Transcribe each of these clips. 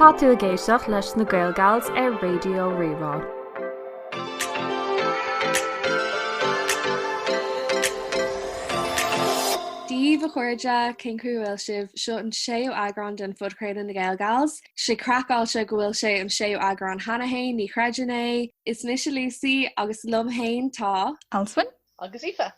Tá tú ag éisteacht leis na GaelGals ar Raidió Rí-Rá. Dia daoibh a chairde, cén chaoi a bhfuil sibh? Seo an séú eagrán den phodchraoladh Na GaelGals. Sé craiceáilte go bhfuil sé an séú eagrán cheana fhéin, ní chreidim é. Is mise Lucy agus liom fhéin tá. Alswyn. Agus Aoife.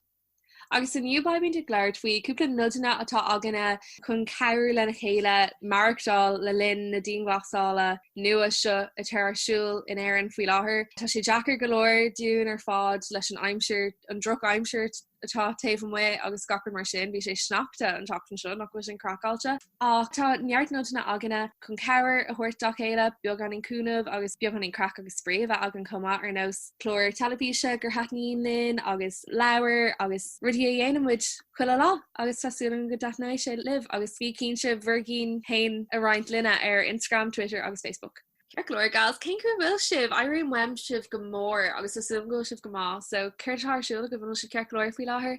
Agus inniu beimid ag labhairt faoi cúpla nodanna atá againne chun cabhrú lena chéile maireachtáil le linn na dianghlasála nua seo atá ar siúl in Éirinn faoi láthair. Tá sé deacair go leor dúinn ar fad leis an aimsir, an drochaimsir atá taobh amuigh agus gach rud mar sin. Bhí sé sneachta an tseachtain seo, nach bhfuil sin craiceáilte? ach tá neart nodanna againne chun cabhair a thabhairt dá chéile, beagáinín cúnamh agus beagáinín craic agus spraoi a bheith againn chomh maith ar nós cláir teilifíse gur thaitníonn linn agus leabhair agus rudaí a dhéanann muid chuile lá agus tá súil agam go dtaitneoidh sé libh agus bí cinnte bhur gcinn féin a roinnt linne ar Instagram, Twitter agus Facebook. Ceart go leor gals, cén chaoi a bhfuil sibh? Airím uaim sibh go mór agus tá súil agam go bhfuil sibh go maith so céard atá ar siúl agaibh? An bhfuil sibh ceart go leor faoi láthair?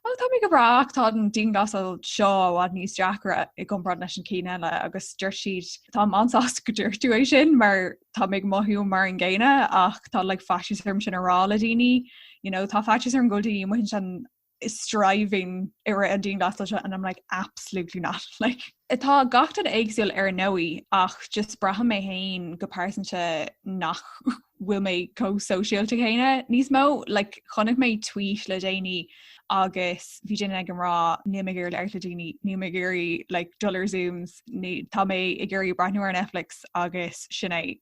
Ó, tá mé go breá ach tá an dianghlasáil seo i bhfad níos deacra i gcomparáid leis an cinn eile agus dúirt siad Táim an-sásta go dúirt tú é sin mar tá mé ag mothú mar an gcéanna ach tá like, faitíos orm sin a rá le daoine. You know, tá faitíos orm go bhfuil daoine amuigh ansin thriving i rith an dianghlasáil seo and I'm like absolutely not like Tá gach duine éagsúil ar ndóigh ach just braithim mé féin go pearsanta nach bhfuil mé chomh sóisialta céanna níos mó. Like, chonaic mé tweet le déanaí agus bhí duine ag um rá níl mé ag iarraidh labhairt le daoine, níl mé ag iarraidh like dul ar zooms, tá mé ag iarraidh breathnú ar Netflix agus sin é.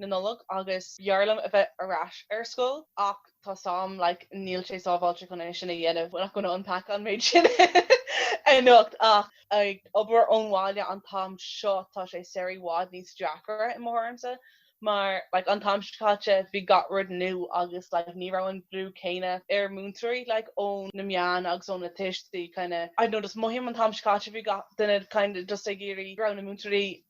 na Nollag agus b'fhearr liom a bheith ar ais ar scoil ach tá fhios agam like níl sé sábháilte chun é sin a dhéanamh not gonna unpack an méid sin anocht ach ag obair ón bhaile an t-am seo tá sé sórt i bhfad níos deacra i mo thuairimse mar like an t-am seo caite bhí gach rud nua agus like ní raibh an brú céanna ar múinteoirí like ó na meáin agus ó na tuistí kind of I don't know just mothaím an t-am seo caite bhí gach duine kind of just ag iarraidh go raibh na múinteoirí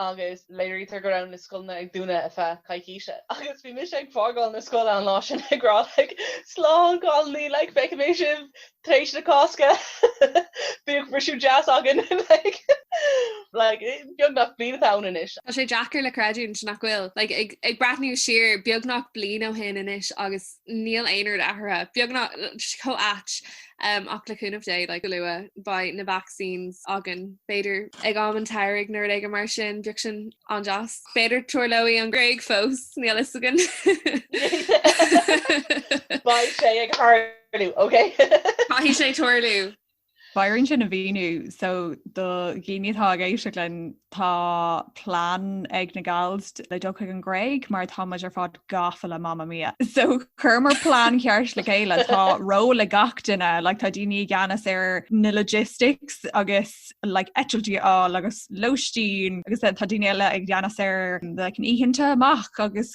agus léirítear go raibh na scoileanna ag dúnadh ar feadh coicíse agus bhí mise ag fágáil na scoile an lá sin ag rá like slán cailíní like feicfidh mé sibh tar éis na Cásca bíodh briseadh deas againn like like beagnach bliain atá ann anois. Tá sé deacair le creidiúint nach bhfuil like ag ag breathnú siar beagnach bliain ó shin anois agus níl aon rud athraithe, beagnach, chomh ait um, ach le cúnamh Dé, like, go luath, beidh na vaccines againn, b'fhéidir ag am an tsamhraidh nó rud éigin mar sin, bheadh sin an-deas. B'fhéidir tarlóidh an Gréig fós, níl fhios againn. Beidh sé ag tarlú, ok? Caithfidh sé tarlú. B'fhearr dúinn é sin a mhíniú so do dhaoine atá ag éisteacht linn, tá plean ag na Gals le dul chuig an Ghréig mar tá muid ar fad gafa le Mamma Mia. So chuireamar plean ceart le chéile tá ról ag gach duine, like, tá daoine i gceannas ar na logistics agus like, eitiltí a fháil agus lóistín agus tá daoine eile i gceannas ar like, na hoícheanta amach agus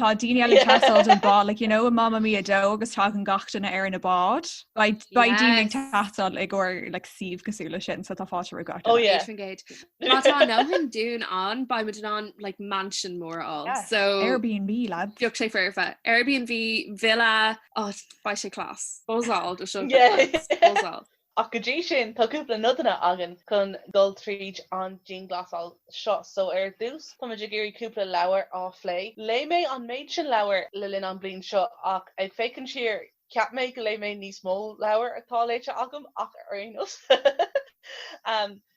Tá daoine eile ag teastáil don bád, like, you know, i Mamma Mia 2 agus tagann gach duine ar an mbád. Beidh beidh daoine ag Yes. teastáil i gcomhair like, suíomh cosúil le sin, so tá fáilte roimh gach Oh duine. yeah. Éisfingéid. Má tá an Eoghan Dún ann, beidh muid in ann like mansion mór a fháil. Yes. So Airbnb, lads. bheadh sé foirfe. Airbnb, villa, oh, beidh sé cleas. Buzz all do seo. Yeah. Buzz all. Ach go dtí sin, tá cúpla nodanna againn chun dul tríd an dianghlasáil seo. So, ar dtús, táimid ag iarraidh cúpla leabhar a phlé. Léigh mé an méid sin leabhar le linn an bhliain seo ach ag féachaint siar, cheap mé go léigh mé níos mó leabhar ná atá léite agam ach ar aon nós.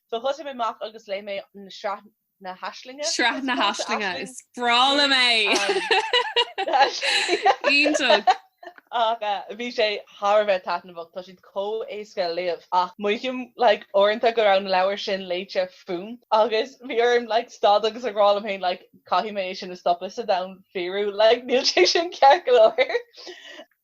So thosaigh mé amach agus léigh mé an sraith. na Aislings. Sraith na Aislings is breá liom é. Iontach. Ach bhí sé thar a bheith taitneamhach, tá siad chomh éasca le léamh ach mothaím like uaireanta go raibh an leabhar sin léite fúm agus bhí orm like stad agus a rá liom féin like caithfidh mé é sin a stopadh sa domhan fíorú like níl sé sin ceart go leor.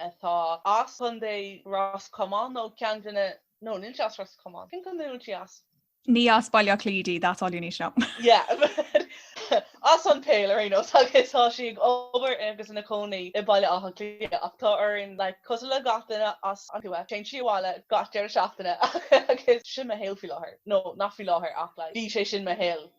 atá as Chontae Ros Comáin nó cén duine nó níl sé as Ros Comáin. Cén contae a bhfuil sí as? Ní as Baile Átha Cliath di, that's all you need to know. Yeah. As an tsaol ar aon nós agus tá sí ag obair agus ina chónaí i Baile Átha Cliath ach tá uirthi like cosúil le gach duine as an tuath téann sí abhaile gach deireadh seachtaine agus sin mo shaol faoi láthair nó nach faoi láthair ach like bhí sé sin mo shaol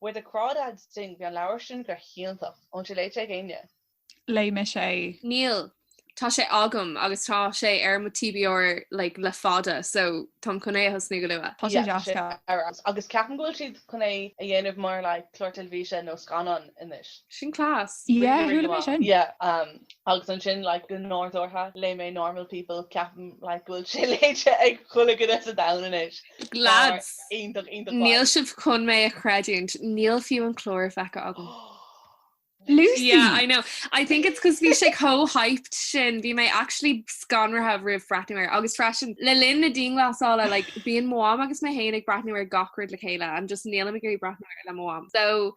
Where the Crawdads Sing, bhí an leabhar sin go hiontach. An bhfuil sé léite ag éinne? Léigh mise é. Níl. Tá sé agam agus tá sé ar mo TBR like le fada so táim chun é a thosnú go luath. Tá sé deas go. Agus ceapaim go bhfuil siad chun é a dhéanamh mar like clár teilifíse nó scannán anois. Sin class. Yeah, chuala mé sin. Yeah, um, agus ansin like go nádúrtha léigh mé Normal People ceapaim like go bhfuil sé léite ag chuile dhuine sa domhan anois. Lads, níl sibh chun mé a chreidiúint, níl fiú an clár feicthe agam. Lucy! Yeah, I know. I think it's because bhí sé chomh hyped sin, bhí mé actually scanraithe roimh bhreathnú air, agus freisin le linn na dianghlasála, like, bíonn mo mham agus mé féin ag breathnú ar gach rud le chéile and just nílim ag iarraidh breathnú air le mo mham. So,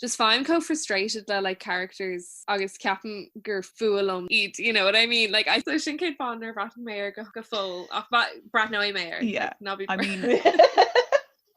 just faighim chomh frustrated le like characters agus ceapaim gur fuath liom iad you know what I mean like sin cén fáth nár bhreathnaigh mé go go fóill ach breathnóidh mé yeah na I mean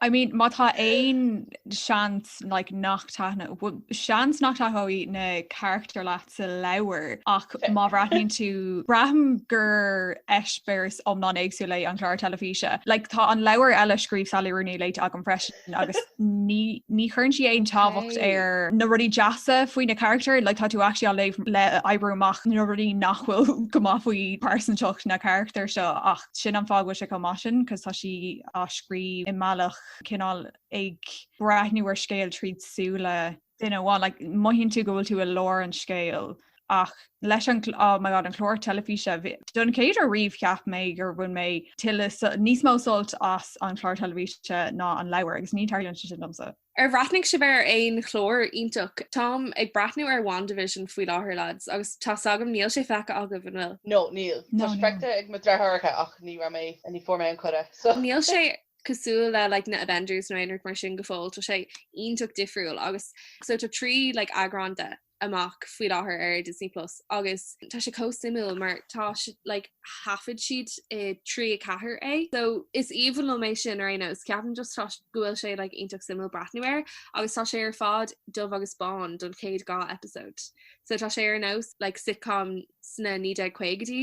I mean má tá aon seans like nach dtaitní seans nach dtaitneoidh na characters leat sa leabhar ach má bhreathnaíonn tú, braithim gur eispéireas iomlán éagsúil é an clár teilifíse. Like, tá an leabhar eile a scríobh Sally Rooney léite agam freisin agus ní, ní chuireann sí aon tábhacht ar na rudaí deasa faoi na carachtair, like, tá tú actually ag léamh le oibriú amach na rudaí nach bhfuil go maith faoi pearsantacht na carachtar seo ach sin an fáth go bhfuil sé chomh maith sin 'cause tá sí á scríobh i mbealach cineál ag breathnú ar scéal tríd súile duine amháin, like, mothaíonn tú go bhfuil tú i lár an scéil ach leis an oh my God an chlár teilifíse don chéad uair riamh cheap mé gur bhain mé níos mó sult as an chlár teilifíse ná an leabhar agus ní tarlaíonn sé sin domsa. Ar bhreathnaigh sibh ar aon chlár iontach? Táim ag breathnú ar WandaVision faoi láthair lads agus tá s'agam níl sé feicthe agaibh an bhfuil? No níl. Tá spreagtha ag mo dheartháireacha ach ní raibh mé, ní fuair mé an coda so. Níl sé cosúil le like na Avengers nó aon rud mar sin go fóill, tá sé iontach difriúil agus so tá trí like eagrán de amach faoi láthair ar Disney Plus agus tá sé chomh suimiúil mar tá si- like thaifead siad i trí a ceathair é so is aoibhinn liom é sin ar aon nós ceapaim just tá s- go bhfuil sé like iontach suimiúil breathnú air agus tá sé ar fad dubh agus bán don chéad dhá eipeasóid so tá sé ar nós like sitcom sna naoi déag caogaidí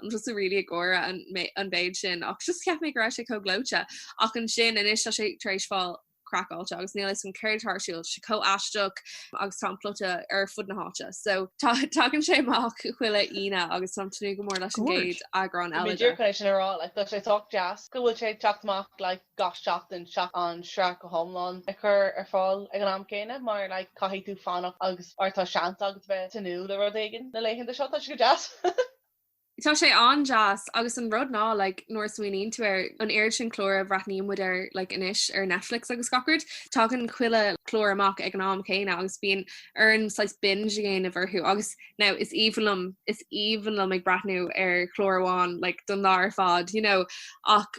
Bhí mé just really ag gáire an mé- an mhéid sin ach just cheap mé go raibh sé chomh gleoite. Ach ansin anois tá sé tar éis fáil craiceáilte agus níl fhios agam céard atá ar siúl, tá sé chomh aisteach agus tá an plota ar fud na háite. So tá- tagann sé amach chuile Aoine agus táim ag tnúth go mór leis an Good. gcéad eagrán Bhí mé ag eile de. iarraidh chun é sin a rá, like tá sé sách deas go bhfuil sé ag teacht amach like gach seachtain seachas an sraith go hiomlán a chur ar fáil ag an am céanna mar like caithfidh tú fanacht agus tá seans agat bheith tnúth le rud éigin na laethanta seo, tá sé go deas. Tá sé an-deas agus an rud ná like nuair a smaoiníonn tú air, an oiread sin cláir a bhreathnaíonn muid air like anois ar Netflix agus gach rud, tagann chuile chlár amach ag an am céanna agus bíonn orainn saghas binge a dhéanamh orthu agus now is aoibhinn liom, is aoibhinn liom ag breathnú ar chlár amháin like don lá ar fad you know ach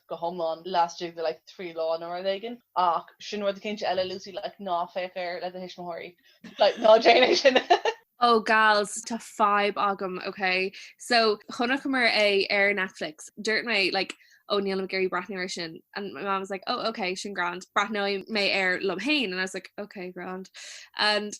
go hiomlán laistigh de like trí lá nó rud éigin ach sin rud cinnte eile Lucy like ná féach air le do thuismitheoirí like ná déan é sin. Oh gals tá fadhb agam ok so chonaiceamar é ar Netflix dúirt mé like oh níl mé ag iarraidh breathnú air sin and my mom was like oh ok sin grand breathnóidh mé air liom féin and I was like ok grand and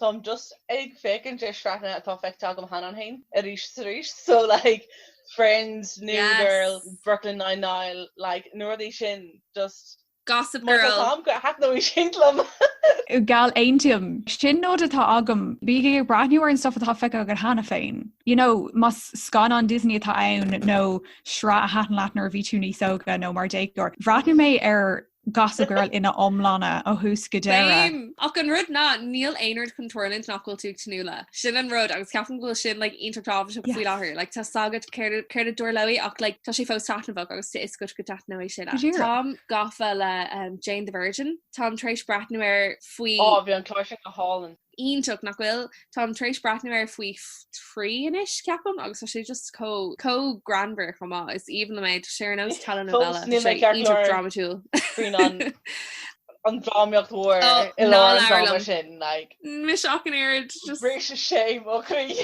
Táim just ag féachaint ar sraitheanna atá feicthe agam cheana féin arís is arís, so like Friends, New Girl, Brooklyn Nine Nine, like na rudaí sin just Gossip Girl. Má tá táim go thaitneoidh sin liom. Geall Aontaím. Sin nod atá agam. Bígí ag breathnú ar an stuff atá feicthe agat cheana féin. You know, más scannán Disney atá ann nó sraith a thaitin leat nuair a bhí tú níos óga nó mar déagóir, bhreathnaigh mé ar Gossip Girl ina iomláine ó thús go deireadh. Bím! Ach an rud ná, níl aon rud chun tarlú nach bhfuil tú ag tnúth le. Sin an rud, agus ceapaim go bhfuil sin like iontach tábhachtach faoi láthair. Yes. Like tá 's agat céard a- céard a tarlóidh ach like tá sé fós taitneamhach agus tá 'fhios agat go dtaitneoidh sé leat. Sure. Táim gafa le um, Jane the Virgin, Táim tar éis breathnú air faoi Á bhí an clár sin go hálainn. iontach nach bhfuil. Táim tar éis breathnú air faoi thrí anois, ceapaim, agus tá sé just chomh, chomh greannmhar chomh maith. Is aoibhinn liom é. Tá sé ar nós telenovela. Fós níl mé ceart go leor. Tá sé iontach drámatúil. faoin an, an drámaíocht mhór Oh, i ná lár an labhair dráma liom. sin, like. Anois ach an oiread, just. Réimse shame, ó chroí.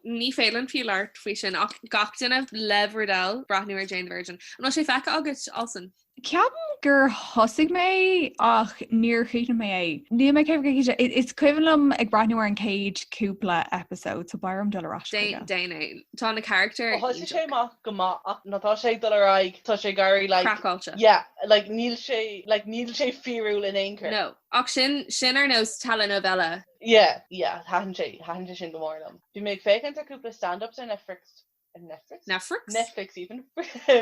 Ní féidir liom fiú labhairt faoi sin, ach gach duine, Lev Rudel, breathnú ar Jane the Virgin. An bhfuil sé feice agat, Alison? Ceapaim gur thosaigh mé ach níor chríochnaigh mé é. Níl mé ag ceapadh cé hí sé. I- Is cuimhin liom ag breathnú ar an chéad cúpla eipeasóid, so b'fhéidir dul ar ais Dé- chuige. Déan é. Tá na carachtair Ó thosaigh sé iontach. amach go maith ach nó tá sé ag dul ar aghaidh, tá sé ag éirí like, Craiceáilte. yeah, like níl sé, like níl sé fíorúil in aon chor. No. Ach sin, sin ar nós telenovela. Yeah, yeah, thaitin sé, thaitin sé sin go mór liom. Bhí mé ag féachaint ar cúpla stand-ups ar Netflix. ar Netflix. Netflix? Netflix even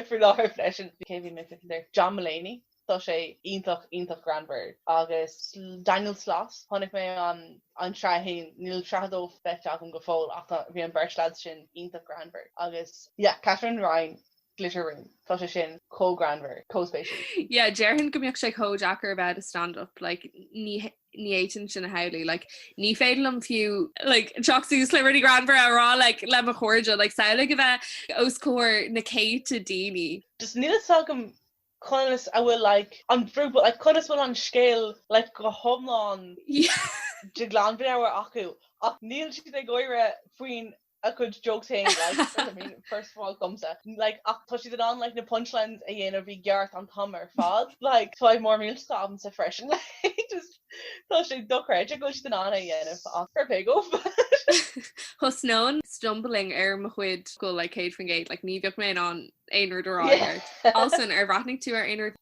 faoi láthair freisin. Kevin McNichol there. John Mulaney. Tá sé iontach iontach greannmhar agus Daniel Sloss chonaic mé an an tsraith fhéin, níl sraith dó feicthe agam go fóill ach tá bhí an bheirt leaids sin iontach greannmhar agus yeah Katherine Ryan Glitter Room tá sé sin chomh greannmhar, chomh spéisiúil. Yeah déarfainn go mbeadh sé chomh deacair a bheith ag stand up like ní ní fhéadfainn sin a shamhlú. Like, ní féidir liom fiú like, teacht suas le rudaí greannmhara a rá like, le mo chairde. Like, samhlaigh a bheith os comhair na céadta daoine. Just níl a fhios agam conas a bhfuil like, an brú, but like, conas a bhfuil an scéal like, go hiomlán de ghlanmheabhair acu, ach níl siad ag gáire faoin a cuid jokes féin like you know what I mean first of all gomsa like ach tá siad in ann like na punchlines a dhéanamh i gceart an t-am ar fad like tá ag mór mílte agamsa freisin like just tá sé dochreidte go bhfuil siad in ann é a dhéanamh ach fair play dóibh Thosnóinn stumbling ar mo chuid focail céad faoin gcéad like ní bheadh mé in ann aon rud a rá yeah ar fad. Alison ar bhreathnaigh tú ar aon rud?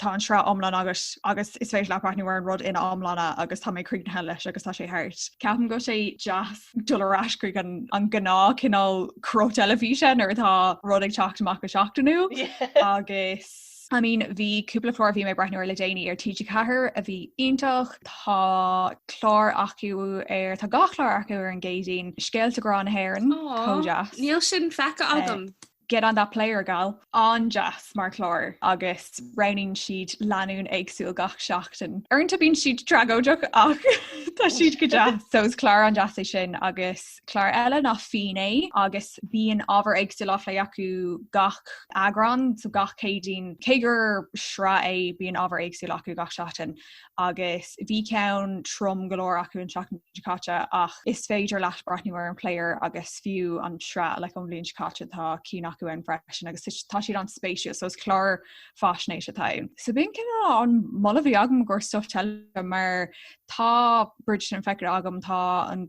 Tá an sraith iomlán agat agus is féidir leat breathnú ar an rud ina iomláine agus tá mé críochnaithe leis agus tá sé thart. Ceapaim go bhfuil sé deas dul ar ais chuig an gnáth cineál cruth teilifíse nuair atá rud ag teacht amach go seachtainiúil agus I mean bhí cúpla clár bhí mé breathnú ar le déanaí ar TG4 a bhí iontach tá clár acu ar tá dhá chlár acu ar an gCéadaoin scéalta grá na hÉireann Níl sin feicthe agam. Get on that player, gal! An-deas mar chlár agus roghnaíonn siad lánúin éagsúil gach seachtain. Uaireanta bíonn siad tragóideach ach tá siad go deas. So is clár an-deas é sin agus clár eile ná Finné agus bíonn ábhar éagsúil á plé acu gach eagrán so gach Céadaoin. Cé gur sraith é bíonn ábhar éagsúil acu gach seachtain. agus bhí ceann trom go leor acu an tseachtain seo caite ach is féidir leat breathnú ar an player agus fiú an tsraith like ón bhliain seo caite tá cinn acu ann freisin agus tá siad an-spéisiúil so is clár faisnéis atá ann. So b'in cineál an moladh bhí agam ó thaobh stuif teile mar tá Bridgerton feicthe agam tá an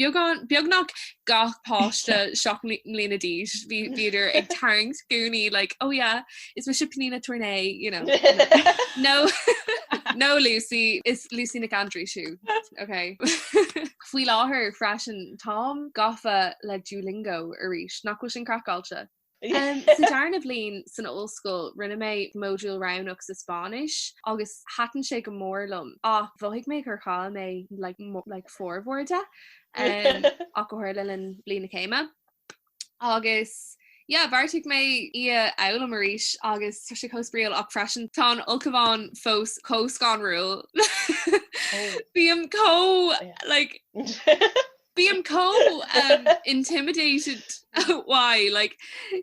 Beag, beagnach gach páiste seacht mbliana d'aois, bhíodar ag tarraingt gúnaí like ó yeah is mise Pnina Tornai nó nó Lucy is Lucy na gcanndrae siúd. Faoi láthair freisin táim gafa le Duolingo arís, nach bhfuil sin craiceáilte? Sa dara bhliain san ollscoil rinne mé modúl roghnach sa Spáinnis agus thaitin sé go mór liom ach mhothaigh mé gur chaill mé like formhór de ach go háirithe le linn bhliain na céime. Agus yeah, bheartaigh mé í a fhoghlaim arís agus tá sé chomh spraíúil ach freisin tá an ulchabhán fós chomh scanrúil. Bím chomh Bím chomh intimidated by like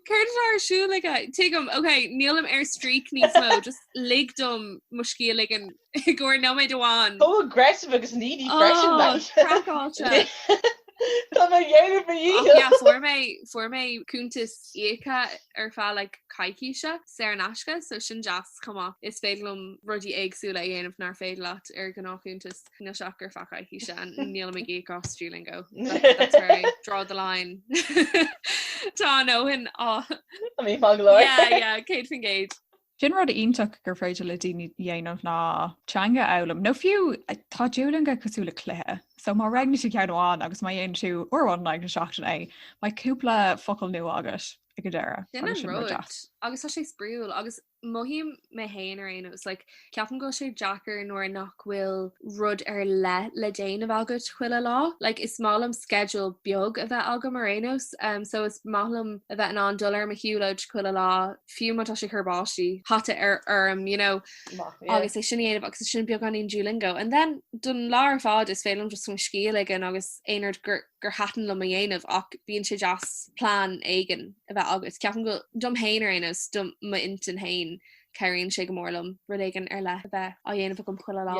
céard atá ar siúl aige? Tuigim, ok, nílim ar streak níos mó, just lig dom mo scíth a ligean i gcomhair nóiméid amháin. Ó aggressive agus needy freisin like. Ó, craiceáilte. Tá mé ag déanamh mo dhícheall. Ach, yeah, fuair mé fuair mé cuntas íoctha ar feadh like coicíse saor in aisce so sin deas chomh maith. Is féidir liom rudaí éagsúla a dhéanamh nár féidir leat ar ghnátchuntas. na seachtar faic acu sin níl mé ag íoc as Duolingo. Draw the line. Tá nócha naoi míle acu ar leith céad fan gcéad. Sin rud iontach gur féidir le daoine a dhéanamh ná teanga a fhoghlaim nó fiú tá Duolingo cosúil le cluiche. So má roghnaíonn tú ceann amháin agus má dhéanann tú ar bhonn seachtaine, beidh cúpla focail nua agat ag an deireadh. agus tá sé spraíúil agus Mothaím mé féin ar aon nós, like, ceapaim go bhfuil sé deacair nuair nach bhfuil rud ar leith le déanamh agat chuile lá. Like, is maith liom sceideal beag a bheith agam ar aon nós, umm, so is maith liom a bheith in ann dul ar mo shiúlóid chuile lá, fiú má tá sé ag cur báistí hata orm, you know, Maith, yeah. agus é sin a dhéanamh agus é sin beagáinín Duolingo. And then don lá ar fad is féidir liom just scíth a ligean agus aon rud gur gur thaitin liom a dhéanamh ach bíonn sé deas plean éigin a bheith agat. Ceapaim go dom féin ar aon nós, do m'intinn féin, cabhraíonn sé go mór liom rud éigin ar leith a bheith á dhéanamh agam chuile lá.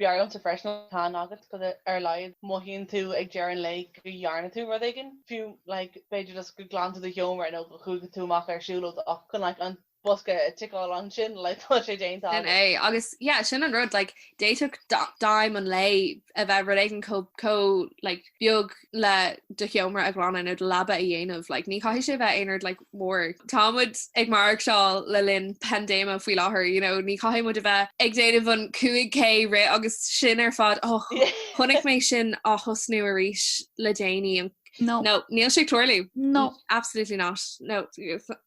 B'fhearr liomsa freisin an plean a bheith agat mar ar a laghad mothaíonn tú ag deireadh an lae go dhearna tú rud éigin, fiú, like, b'fhéidir just go nglanann tú do sheomra nó go chuaigh tú amach ar siúlóid ach chun, like, an bosca a ticeáil ansin like tá sé déanta agat. Sin é agus yeah sin an rud like d'fhéadfadh aidhm an lae a bheith rud éigin chomh chomh like beag le do sheomra a ghlanadh nó do leaba a dhéanamh like ní chaithfidh sé bheith aon rud like mór. Tá muid ag maireachtáil le linn paindéime faoi láthair you know ní chaithfidh muid a bheith ag déanamh an 5K rith agus sin ar fad oh chonaic mé sin ag tosnú arís le déanaí an No. no níl sé ag tarlú No. absolutely not no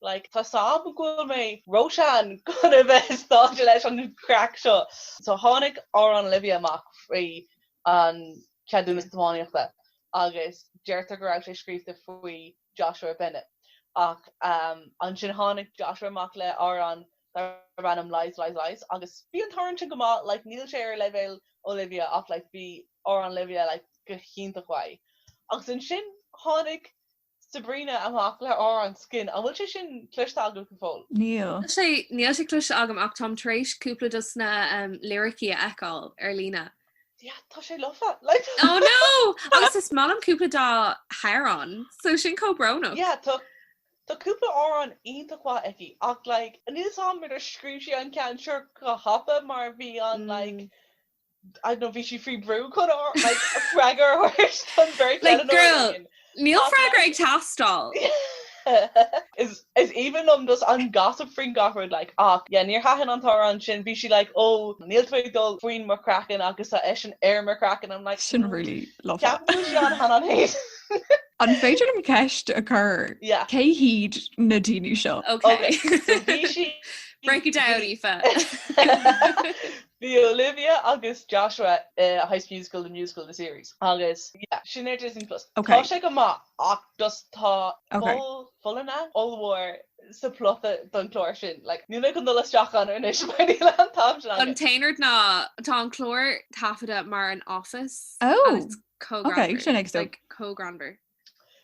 like tá 's agam go bhfuil mé róshean chun a bheith invested leis an chraic seo. So tháinig Amhrán Olivia amach faoi an Cheadúnas Tiomána agus deirtear go raibh sé scríobhta faoi Joshua Bennett ach ansin tháinig Joshua amach le amhrán darb ainm Lies Lies Lies agus bhí an t-amhrán sin go maith like níl sé ar leibhéal Olivia ach like bhí Amhrán Olivia like go hiontach maith agus ansin tháinig Sabrina amach le hamhrán Skin. An bhfuil sé sin cloiste agat go fóill? Níl. Níl sé, níl sé cloiste agam ach táim tar éis cúpla dos na liricí a fheiceáil ar líne. Yeah, tá sé lofa. Like, Oh no! Agus is maith liom cúpla dá hamhráin, so sin chomh brónach. yeah, tá, tá cúpla amhrán iontach maith aici ach like, níl 's agam ar scríobh sí an ceann seo go thapa mar bhí an like, Mm. I don't know, bhí sí faoi brú chun freagar a thabhairt don beirt Like, Eleanor girl, Lane. Ach níl freagra ag teastáil. Is is aoibhinn liom just an gossip faoin gach rud, like, ach yeah, níor thaitin an t-amhrán sin, bhí sí like, oh, níl tú ag dul faoin mo chraiceann agus tá eisean ar mo chraiceann, I'm like, Sin really love that. ceapaim go sí an t-amhrán féin. An féidir liom ceist a chur? Yeah. Cé hiad na daoine seo? Ok, Okay, so bhí sí, Break it down, Aoife. Bhí Olivia agus Joshua i High School Musical, the musical, the series agus yeah, sin ar Disney Plus. Ok. Tá sé go maith ach just tá Ok. poll ollmhór sa plot don chlár sin. Like, níl mé chun dul isteach ann anois mar níl an t-am sin againn. An t-aon rud ná tá an clár taifeadta mar an Office Oh! and it's chomh greannmhar. Ok, sin ag stop. Like, chomh greannmhar.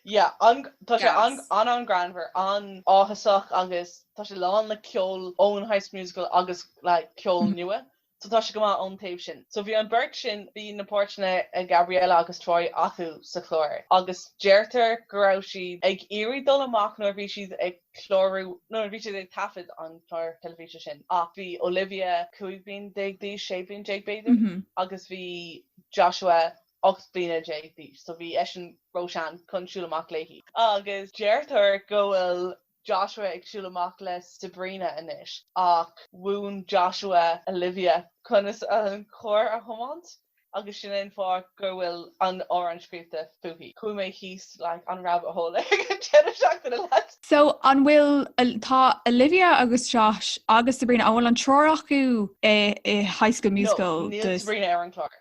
Yeah, tá sé an-ghreannmhar, an-áthasach agus tá sé lán le ceol ón High School Musical agus like ceol nua. So tá sé go maith ón taobh sin. So bhí an beirt sin, bhí na páirteanna ag Gabriella agus Troy acu sa chlár agus deirtear go raibh siad ag iarraidh dul amach nuair a bhí siad ag clárú, nó nuair a bhí siad ag taifead an chláir teilifíse sin ach bhí Olivia cúig bliain déag d'aois, sé bliain déag b'fhéidir, agus bhí Joshua ocht mbliana déag d'aois, so bhí eisean róshean chun siúl amach léi. Agus deirtear go bhfuil Joshua ag siúl amach le Sabrina anois, ach mhúin Joshua do Olivia conas an carr a thiomáint agus sin é an fáth go bhfuil an amhrán scríofa fúithi. Chuaigh mé thíos like an rabbit hole ag an deireadh seachtaine leat! So an bhfuil, tá Olivia agus Josh agus Sabrina, an bhfuil an triúr acu i High School Musical? No, níl Sabrina ar an chlár.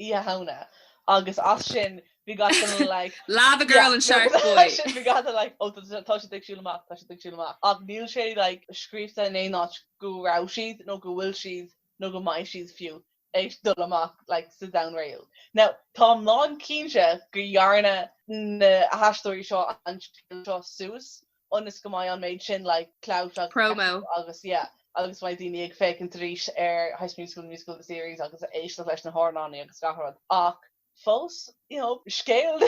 Oíche Shamhna agus as sin bhí gach duine like Lavagirl yeah and nó Sharkboy. As sin bhí gach duine like ó tá tá siad ag siúl amach tá siad ag siúl amach ach níl sé like scríofa in aon áit go raibh siad nó go bhfuil siad nó go mbeidh siad fiú ag dul amach like sa domhan réadúil. Now táim lán cinnte go dhearna na haisteoirí seo an scéal seo suas ionas go mbeidh an méid sin like clout agus promo acu agus yeah agus go mbeidh daoine ag féachaint arís ar High School Musical the Musical the Series agus ag éisteacht leis na hamhráin agus gach rud ach fós you know scéal.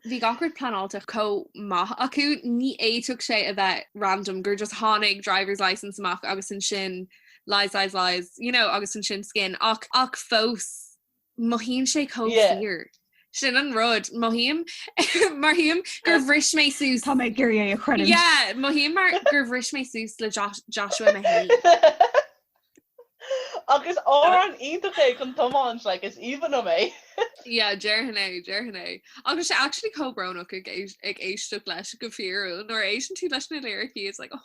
Bhí gach rud pleanáilte chomh maith acu ní fhéadfadh sé a bheith random gur just tháinig Driver's Licence amach agus ansin Lies Lies Lies you know agus ansin Skin ach ach fós mothaíonn sé chomh fíor. Sin an rud, mothaím, mothaím gur bhris mé suas. Tá mé ag iarraidh é a chreidiúint. Yeah, mothaím mar gur bhris mé suas le Joshua mé féin. Agus amhrán iontach é chun tiomáint, like, is aoibhinn liom é. Yeah, déarfainn é, déarfainn é. Agus sé actually chomh brónach ag éisteacht leis go fíorúil, nuair a éisteann tú leis na liricí, it's like, oh.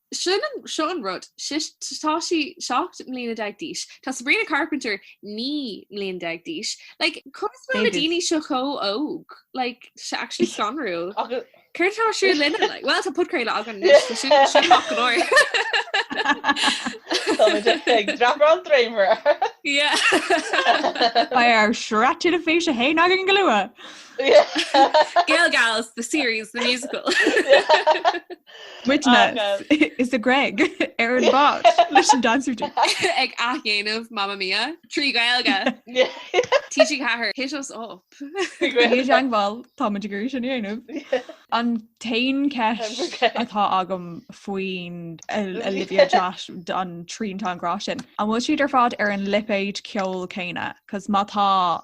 Seo an rud, tá sí seacht mbliana déag d'aois, tá Sabrina Carpenter naoi mbliana déag d'aois, like conas go bhfuil na daoine seo chomh óg? Like tá sé actually scanrúil. Céard atá ar siúl linne? Like well tá podchraoladh againn anois, sin sin maith go leor. Tá muid ag dreapadh an dréimire. Yeah. Beidh ár sraith teilifíse féin againn go luath. Gaeilge Alice, the series, the musical. Muidne sa Ghréig ar an bhád leis an dancer dude. Ag athdhéanamh Mamma Mia trí Ghaeilge. TG4, hit us up. Déan teagmháil, tá muid ag iarraidh sin a dhéanamh. An t-aon cheist atá agam faoin Olivia Josh an triantán grá sin, an bhfuil siad ar fad ar an lipéid ceoil céanna? Cos má tá,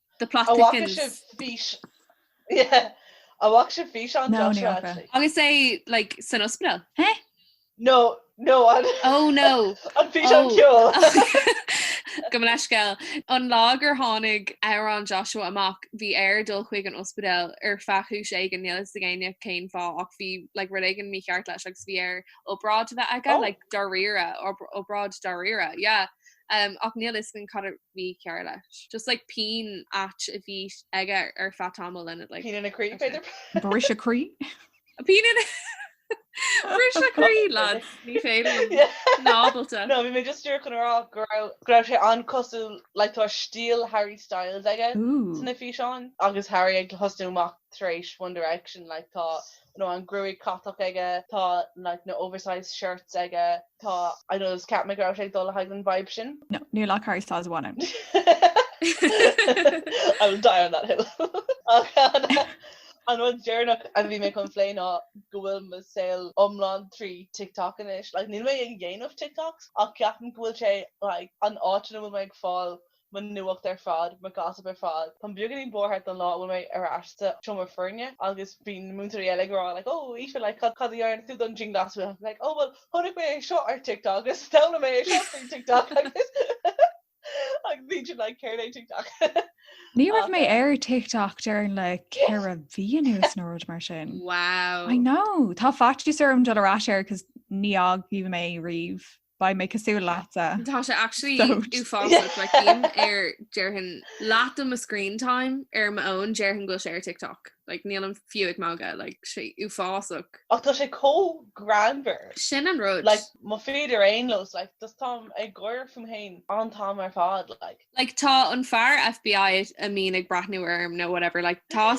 The plot thickens. An bhfaca sibh físeán Joshua actually? Agus é like san ospidéal? Huh? No, no, an. Oh no. An físeán ceoil. Gabh mo leithscéal. An lá gur tháinig amhrán Joshua amach bhí air dul chuig an ospidéal ar feadh cúis éigin níl fhios ag éinne cén fáth ach bhí like rud éigin mícheart leis agus bhí air obráid a bheith aige like dáiríre, obráid dáiríre, yeah. Ach níl fhios againn cad a bhí cearr leis. Just like pian ait a bhí aige ar feadh tamaill then it like. Pian ina chroí b'fhéidir? Briseadh croí? Pian ina Briseadh croí lads ní féidir nílim ábalta. No bhí mé just díreach chun a rá go raibh sé an-chosúil like tá stíl Harry Styles aige sna físeáin agus Harry ag thosnú amach tar éis One Direction like tá nó an gruaig catach aige, tá like na oversized shirts aige, tá I know just cheap mé go raibh sé ag dul le haghaidh an vibe sin. No, níl ach Harry Styles amháin ann. I will die on that hill. Ach an rud deireanach a bhí mé chun plé ná go bhfuil mo saol iomlán trí TikTok anois. Like níl mé ag dhéanamh TikToks ach ceapaim go bhfuil sé like an áit ina bhfuil mé ag fáil mo nuacht ar fad, mo gossip ar fad. Táim beagáinín buartha don lá a bhfuil mé ar ais sa seomra foirne agus bíonn na múinteoirí eile ag rá like oh Aoife like cad a dhearna tú don dianghlasáil? I'm like oh well chonaic mé é seo ar TikTok agus d'fhoghlaim mé é seo faoin TikTok agus agus bhí siad like céard é TikTok. Ní raibh mé ar TikTok déarfainn le ceithre mhí anois nó rud mar sin. Wow. I know Tá faitíos orm dul ar ais air cos ní fhágfaidh mé riamh Beidh mé cosúil leatsa. Tá sé actually Sóid. uafásach like bím ar déarfainn leath de mo screen time ar mo fhón déarfainn go bhfuil sé ar TikTok like nílim fiú ag magadh like sé uafásach. Ach tá sé chomh greannmhar. Sin an rud. Like mo feed ar aon nós like just táim ag gáire fúm fhéin an t-am ar fad like. Like tá an fear FBI a mbíonn ag breathnú orm nó whatever like tá.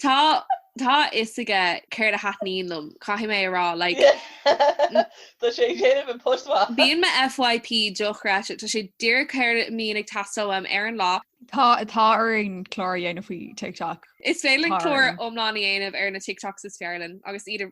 Tá, tá a fhios aige céard a thaitníonn liom, caithfidh mé a rá, like, Tá sé ag déanamh an post mhaith. Bíonn mo FYP dochreidte, tá sé díreach céard a mbíonn ag teastáil uaim ar an lá. Tá, tá orainn clár a dhéanamh faoi TikTok. Is féidir linn Tá clár orainn. iomlán a dhéanamh ar na TikToks is fearr linn agus iad a.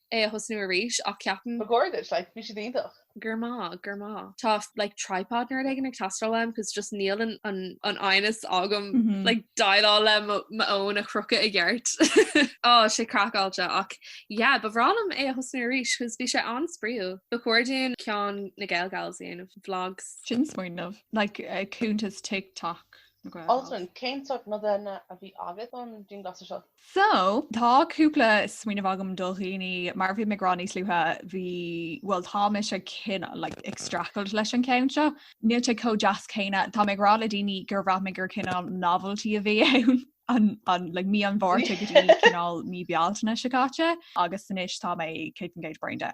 é a thosnú arís ach ceapaim. Ba chóir duit, like, bhí siad iontach. Go raibh maith agat, go raibh maith agat. Tá like tripod nó rud éigin ag teastáil uaim cos just níl an fhoighne agam like déileáil le mo fhón a chrochadh i gceart. Tá sé craiceáilte ach yeah, ba bhreá liom é a thosnú arís cos bhí sé an-spraíúil. Ba chóir dúinn ceann na GaelGals a dhéanamh, vlogs. Sin smaoineamh. Like cuntas TikTok na GaelGals. Altan, cén sórt nodanna a bhí agat don dianghlasáil seo? So, tá cúpla smaoineamh agam do dhaoine, mar a bhí mé ag rá níos luaithe, bhí, bhuel, tá mise ag cineál, like, ag streachailt leis an cheann seo. Níl sé chomh deas céanna, tá mé ag rá le daoine gur bhraith mé gur cineál novelty a bhí ann, an, an, like, mí an Mhárta go dtí cineál mí Bealtaine seo caite, agus anois tá mé 100% braindead.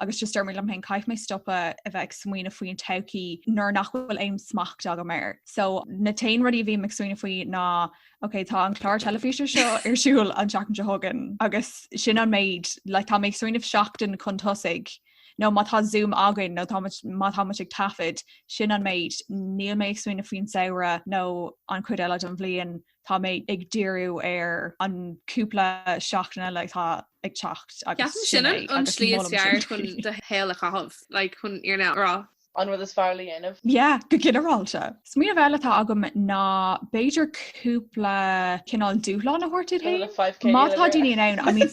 agus just deirim liom féin caithfidh mé stopadh a bheith ag smaoineamh faoi an todhchaí nuair nach bhfuil aon smacht agam air. So na haon rudaí a bhím ag smaoineamh faoi ná Ok tá an clár teilifíse seo ar siúl an tseachtain seo chugainn agus sin an méid like tá mé ag smaoineamh seachtain chun tosaigh nó má tá zoom againn nó má tá muid ag taifead sin an méid níl mé ag smaoineamh faoin samhradh nó an chuid eile don bhliain Tá mé ag díriú ar an cúpla seachtaine like atá ag teacht agus. Ceapaim sin an slí is fearr chun do shaol a chaitheamh, like chun an fhírinne a rá. An rud is fearr le déanamh. Yeah, go ginearálta. Smaoineamh eile atá agam ná b'fhéidir cúpla cineál dúshlán a thabhairt duit féin. Má tá daoine in ann, I mean.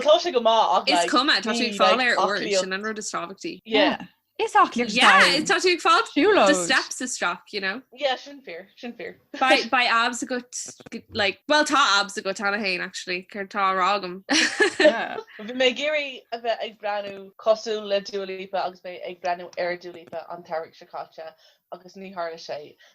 tá sé go má is cuma tá tú ag fáil aer úr sin an rud is tábhachtaí. Is aclaíocht yeah tá sé ag fáil siúlóid the steps is strac you know yeah sin fíor sin fíor Beidh abs agat like well tá abs agat cheana féin actually tá rá agam Bhí mé ag iarraidh a bheith ag breathnú cosúil le Dua Lipa agus mé ag breathnú ar Dua Lipa an samhradh seo caite agus níor tharla sé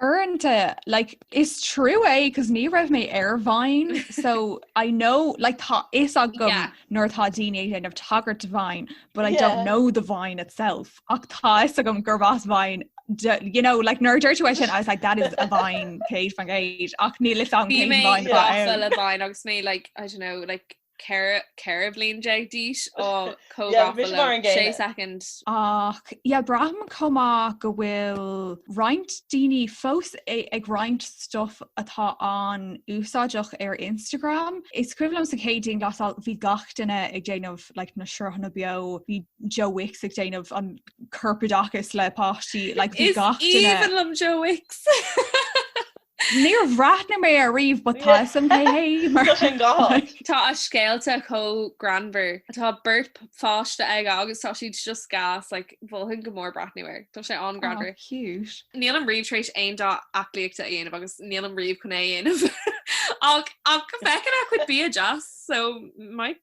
Uaireanta, like, is trua é, cos ní raibh mé ar Vine, so I know, like, tá a fhios agam yeah. nuair tá daoine ag déanamh tagairt do Vine, but I yeah. don't know the Vine itself. Ach tá a fhios agam gurb as Vine you know like nuair a dúirt tú sin I was like that is a vine céad faoin gcéad ach níl a fhios agam cén vine agus mé like I don't know like 14 bliain d'aois tá comhghafa le 6 soicind. Ach, yeah, braithim chomh maith go bhfuil roinnt daoine fós ag roinnt stuif atá an-úsáideach ar Instagram. Is cuimhin liom sa chéad dianghlasáil bhí gach duine ag déanamh like na sruthanna beo, bhí Joe Wicks ag déanamh an corpoideachas le páistí, like bhí gach duine. Is aoibhinn liom Joe Wicks! Níor bhreathnaigh mé air riamh but tá a fhios a'm cé hé mar. Tá sé i ngach áit. Tá a scéalta chomh greannmhar. Tá beirt pháiste aige agus tá siad just gas like mholfainn go mór breathnú air. Tá sé an-greannmhar. Aw cute. Nílim riamh tar éis aon dath aclaíochta a dhéanamh agus nílim riamh chun é a dhéanamh ach ach feicim a chuid bia deas so might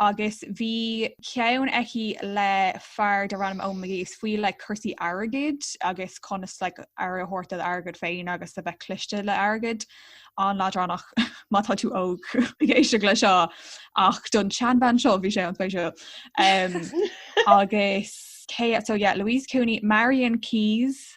agus bhí ceann aici le fear darb ainm Eoin McGee is faoi like cúrsaí airgid agus conas like aire a thabhairt do d'airgead féin agus a bheith cliste le airgead an-leadránach má tá tú óg ag éisteacht leis seo ach don tseanbhean seo bhí sé an-spéisiúil um, agus yeah so yeah Louise Cooney Marian Keyes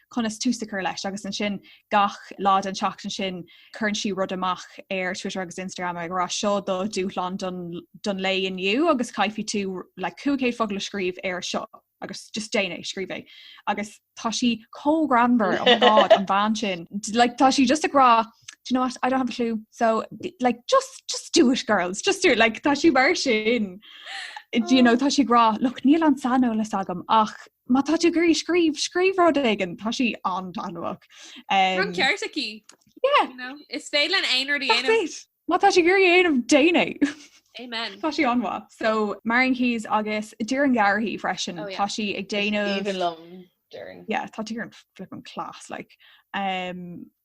conas tús a chur leis agus ansin gach lá den tseachtain sin cuireann sí rud amach ar Twitter agus Instagram ag rá seo do dhúshlán don lae inniu agus caithfidh tú like 500 focal a scríobh ar seo agus just déan é scríobh é agus tá sí chomh greannmhar oh my God an bhean sin like, tá sí just ag rá you know what I don't have a clue so like just just do it girls just do it like tá sí mar sin you know tá sí ag rá look níl an saineolas agam ach Má tá tú ag iarraidh scríobh, scríobh rud éigin, tá sí an-taitneamhach. Tá an ceart aici. Is féidir linn aon rud a dhéanamh. Má tá sí ag iarraidh é a dhéanamh déanaigí. Amen. Tá sí an-mhaith. So Marian Keyes agus Diarmuid Gavin freisin oh, tá sí ag déanamh Tá Diarmuid flipping class like.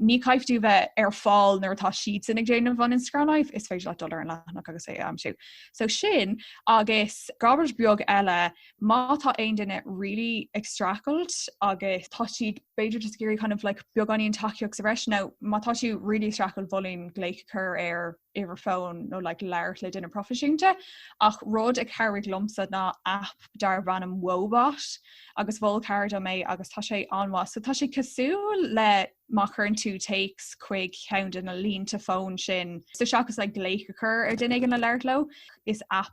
Ní chaithfidh tú a bheith ar fáil nuair atá siadsan ag déanamh an Instagram Live, is féidir leat dul ar an leathanach agus é a aimsiú. So sin agus comhairle bheag eile, má tá aon duine really ag streachailt agus tá siad b'fhéidir just ag iarraidh kind of like beagáinín tacaíochta sa bhreis nó má tá tú really ag streachailt mholfainn glaoch a chur ar uimhir fón nó like labhairt le duine proifisiúnta ach rud a chabhraigh liomsa ná app darb ainm Woebot agus mhol cara dom é agus tá sé an-mhaith so tá sé cosúil le má chuireann tú téacs chuig ceann de na línte fón sin so seachas like glaoch a chur ar dhuine éigin le labhairt leo is app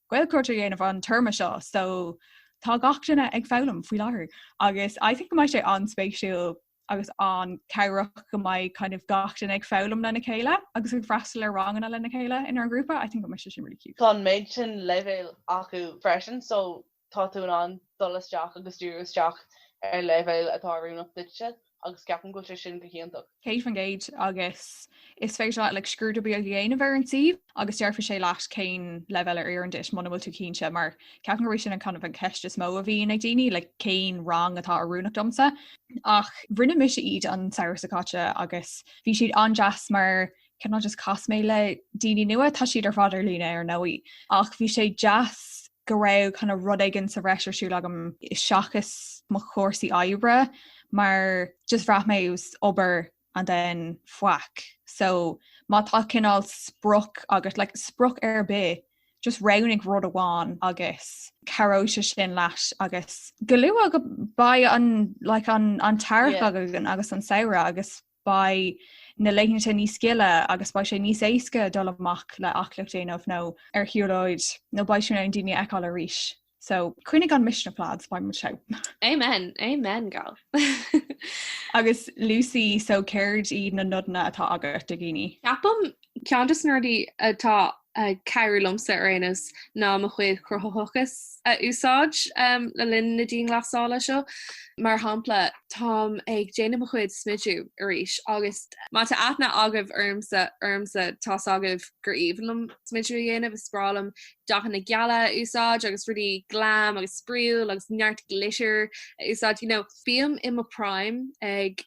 Gaelchruit a dhéanamh an téarma seo so tá gach duine ag foghlaim faoi láthair agus I think go mbeidh sé an-spéisiúil agus an-cabhrach go mbeidh kind of gach duine ag foghlaim lena chéile agus ag freastal ar ranganna lena chéile inár ngrúpa I think go mbeidh sé sin really cute. Tá an méid sin leibhéil acu freisin so tá tú in ann dul isteach agus díriú isteach ar leibhéal atá oiriúnach duitse. agus ceapaim go bhfuil sé sin go hiontach. Céad faoin gcéad agus is féidir leat like scrúdú beag a dhéanamh ar an suíomh agus déarfaidh sé leat cén leibhéal a oireann duit muna bhfuil tú cinnte mar ceapaim go bhfuil sin an kind of an cheist is mó a bhíonn ag daoine like cén rang atá oiriúnach domsa ach rinne mise iad an samhradh seo caite agus bhí siad an-deas mar Cineál just chas mé le daoine nua? Tá siad ar fad ar líne ar ndóigh, ach bhí sé deas go raibh kind of rud éigin sa bhreis ar siúil agam seachas mo chúrsaí oibre mar just bhraith mé just obair and then faic. So má tá cineál sprioc agat le like, sprioc ar bith, just roghnaigh rud amháin agus cabhróidh sé sin leat agus go luath beidh an, like, an, an t-earrach yeah. agus an samhradh agus beidh na laethanta níos gile agus beidh sé níos éasca dul amach le aclaíocht a dhéanamh nó ar shiúlóid nó beidh tú in ann daoine a fheiceáil arís. So coinnigh an misneach lads beidh muid seo. Amen, amen girl. Agus Lucy so céard iad na nodanna atá agat do dhaoine? Ceapaim Ceann de na rudaí atá ag cabhrú liomsa ar aon nós ná mo chuid chruthaitheachais a úsáid le linn na dianghlasála seo. Mar shampla, táim ag déanamh mo chuid smidiú arís agus má tá aithne agaibh ormsa tá's agaibh gur aoibhinn liom smidiú a dhéanamh, is breá liom dathanna geala a úsáid agus rudaí glam agus spraíúil agus neart glitter a úsáid, you know. Bím i mo primeáil.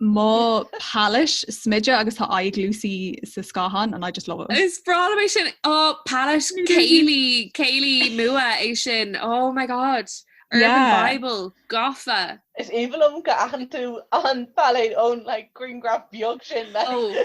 Mo palettes smididh agus tá aghaidh Lucy sa scáthán and I just love it. Is breá liom é sin á oh, palettes Kylie, Kylie nua é sin oh my god Urban yeah. Bible gafa. Is aoibhinn liom go n-aithníonn tú an palette ón like, green graph beag sin le. Oh.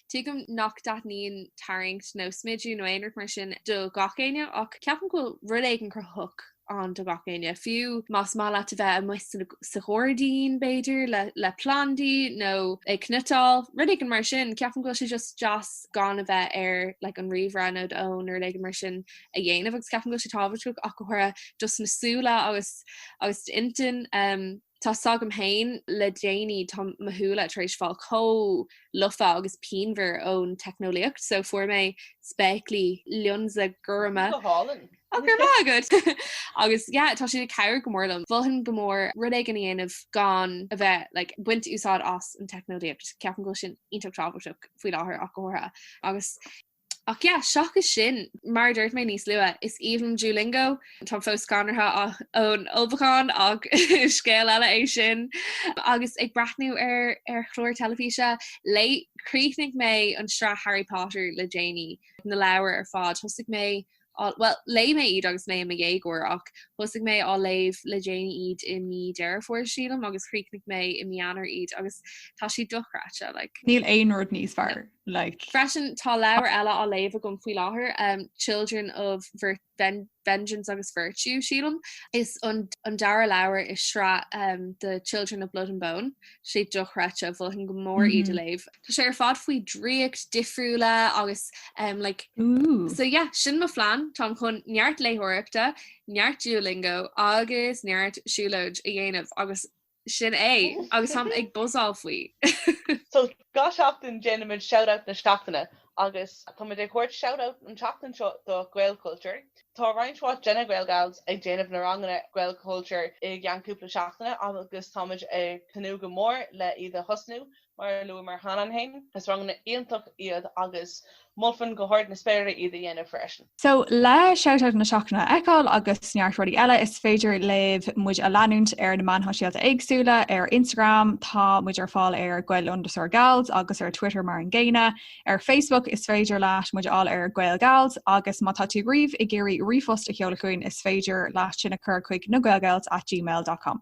Tuigim nach dtaitníonn tarraingt nó smidiú nó aon rud mar sin do gach éinne ach ceapaim go bhfuil rud éigin cruthaitheach ann do gach éinne, fiú más maith leat a bheith amuigh sa ghairdín b'fhéidir le plandaí nó ag cniotáil, rud éigin mar sin. Ceapaim go bhfuil sé just deas gan a bheith ar like an ríomhaire nó d'fhón nó rud éigin mar sin a dhéanamh agus ceapaim go bhfuil sé tábhachtach ach go háirithe just na súile agus agus intinn. Tá's agam féin le déanaí, tá mo shúile tar éis fáil chomh lofa agus pianmhar ón teicneolaíocht so fuair mé spéaclaí lionsa gorma. Go hálainn. Á, go raibh maith agat! Agus yeah, tá siad ag cabhair go mór liom. mholfainn go mór rud éigin a dhéanamh gan a bheith, like, baint úsáid as an teicneolaíocht. Ceapaim go bhfuil sin iontach tábhachtach faoi láthair ach go háirithe. Agus. Ach yeah, seachas sin, mar a dúirt mé níos luath, is aoibhinn liom Duolingo, táim fós scanraithe ón ulchabhán ach scéal eile é sin, agus ag breathnú ar chláir teilifíse, léigh, chríochnaigh mé an sraith Harry Potter le déanaí, na leabhair ar fad, thosaigh mé bhuel, léigh mé iad agus mé i mo dhéagóir ach thosaigh mé á léamh le déanaí iad i mí Dheireadh Fómhair, sílim, agus chríochnaigh mé i mí Eanáir iad agus tá siad dochreidte, like. Níl aon rud níos fearr, like. Freisin, tá leabhar eile á léamh agam faoi láthair, Children of Vengeance agus Virtue, sílim, is an dara leabhar i sraith The Children of Blood and Bone, sé dochreidte mholfainn go mór iad a léamh. Tá sé ar fad faoi dhraíocht difriúla agus um, like, Ooh. so yeah, sin mo phlean. Táim chun neart léitheoireachta, neart Duolingo agus neart siúlóid a dhéanamh agus sin é agus táim ag buzáil faoi. So, gach seachtain déanaimid Shout Out na Seachtaine Agus tá muid ag tabhairt shout out an tseachtain seo do Gaelchultúr. Tá roinnt mhaith de na GaelGals ag déanamh na ranganna Gaelchultúr i gceann cúpla seachtaine agus tá muid ag tnúth go mór le iad a thosnú. Mar a luamar cheana féin, is ranganna iontach iad agus mholfainn go hard na spéire iad a dhéanamh freisin. So, le Shoutout na Seachtaine a fheiceáil agus neart rudaí eile, is féidir libh muid a leanúint ar na meáin shóisialta éagsúla, ar Instagram, tá muid ar fáil ar Gael underscore Gals agus ar Twitter mar an gcéanna. Ar Facebook, is féidir leat muid a fháil ar Gael Gals agus má tá tú riamh ag iarraidh ríomhphost a sheoladh chugainn, is féidir leat sin a chur chuig nagaelgals at gmail.com.